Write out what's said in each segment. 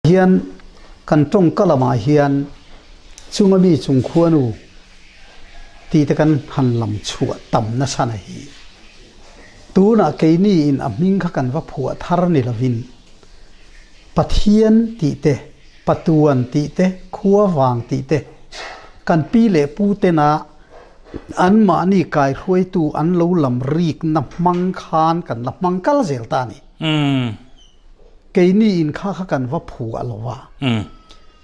Hian kan tawngka lamah hian chunga mi chung khuanu tite kan han lam chhuah tam nasa na hi. Tunah keini in a hming kha kan va phuah thar ni lovin Pathian tih te, Patuan tih te, Khua vang tih te, kan pi leh pu te na an mahni kaihruaitu an lo lam rikna hmang khan kan la hmang kal zel ta a ni. Keini in kha kha kan va phu a lo va.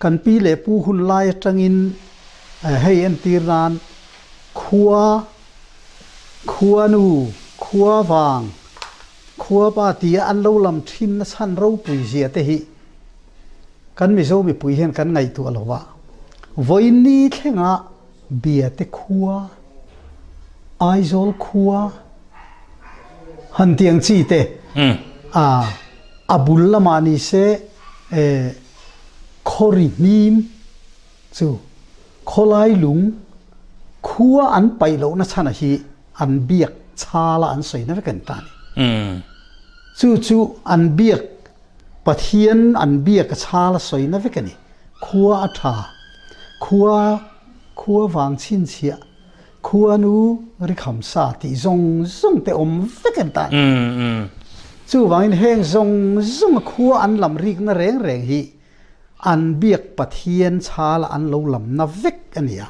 Kan pi leh pu hun lai atangin hei entir nan khua, khuanu, khua vang, khua pa tia an lo lam thin na chhan ropui zia te hi kan Mizo mipui hian kan ngaihtuah lo va. Vawiin ni thlengah bia te khua. Aizawl khua han tih ang chi te a a bul lamah ni se khawri hnim chu khawlai lung khua an paih loh na chhan ah hi an biak chal a an sawi na vek a ni ta ni chu chu an biak Pathian an biak a chal a sawi na vek a ni khua a tha khua Khua vang chhinchhiah, khuanu rikham sa tih zawng zawng te awm vek em tan. Chuvangin heng zawng zawnga khua an lam rikna reng reng hi an biak Pathian chhala an lo lamna vek a ni a.